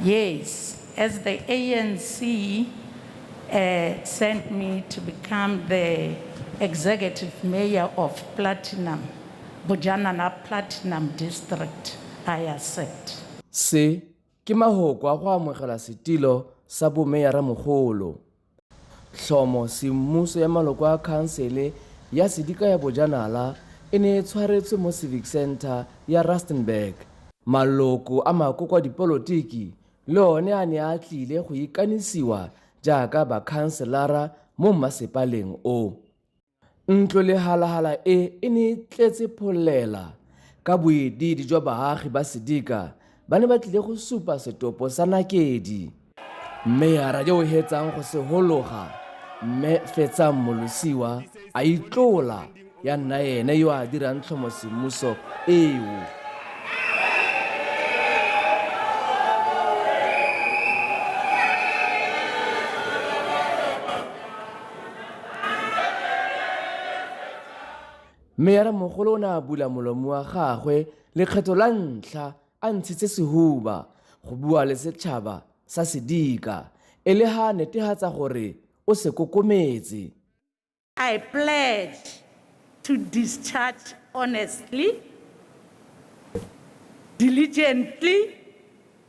Yes, as the ANC uh, sent me to become the executive mayor of Platinum, Bujanana Platinum District, I accept. Se ke mahoko a go amogela setilo sa bomeyara mogolo. Tlhomo semmuso ya maloko a khansele ya sedika ya bojanala e ne e tshwaretswe mo Civic Centre ya Rustenburg. Maloko a makoko a dipolotiki le one a ne a tlile go ikanisiwa jaaka bakhanselara mo mmasepaleng o. Ntlo le halahala e e ne e tletse pholela ka boediidi jwa baagi ba Sedika ba ne ba tlile go supa setopo sa nakedi. Mme ya radiao hetsang go se hologa mme fetsang molosiwa a itlola ya nna ene yo a dirang tlhomo semmuso eo. mme ya re mogolo o ne a bula molomo wa gagwe lekgetho la ntlha a ntshitse sehuba go bua le setšhaba sa sedika e le ha a netehatsa gore o se kokometse I pledge to discharge honestly, diligently,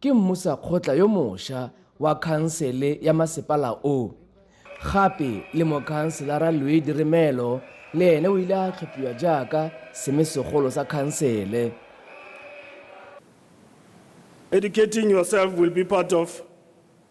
Ke mmusakgotla yo mosha wa khansele ya masepala o. Gape le Mokhanselara Louis Diremelo le ene o ile a tlhophiwa jaaka seme segolo sa khansele. Educating yourself will be part of.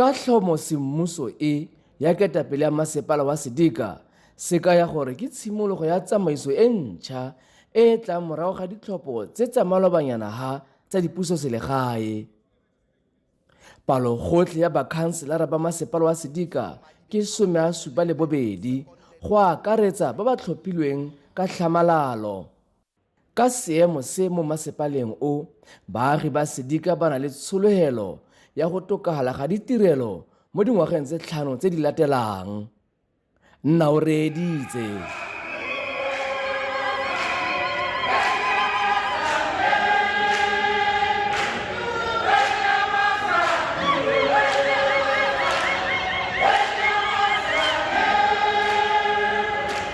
ka tlhomo semmuso e ya ketapele ya masepala wa sedika se kaya gore ke tshimologo ya tsamaiso e ntšha e e tlang morago ga ditlhopho tse tsa malobanyana ha tsa dipuso selegae palo gotlhe ya bakhanselara ba masepala wa sedika ke some a supa le bobedi go akaretsa ba ba tlhophilweng ka tlhamalalo Ka seemo se mo masepaleng o, baagi ba Sedika ba na le tshologelo ya go tokafala ga ditirelo mo dingwageng tse tlhano tse di latelang. Nna o reeditse.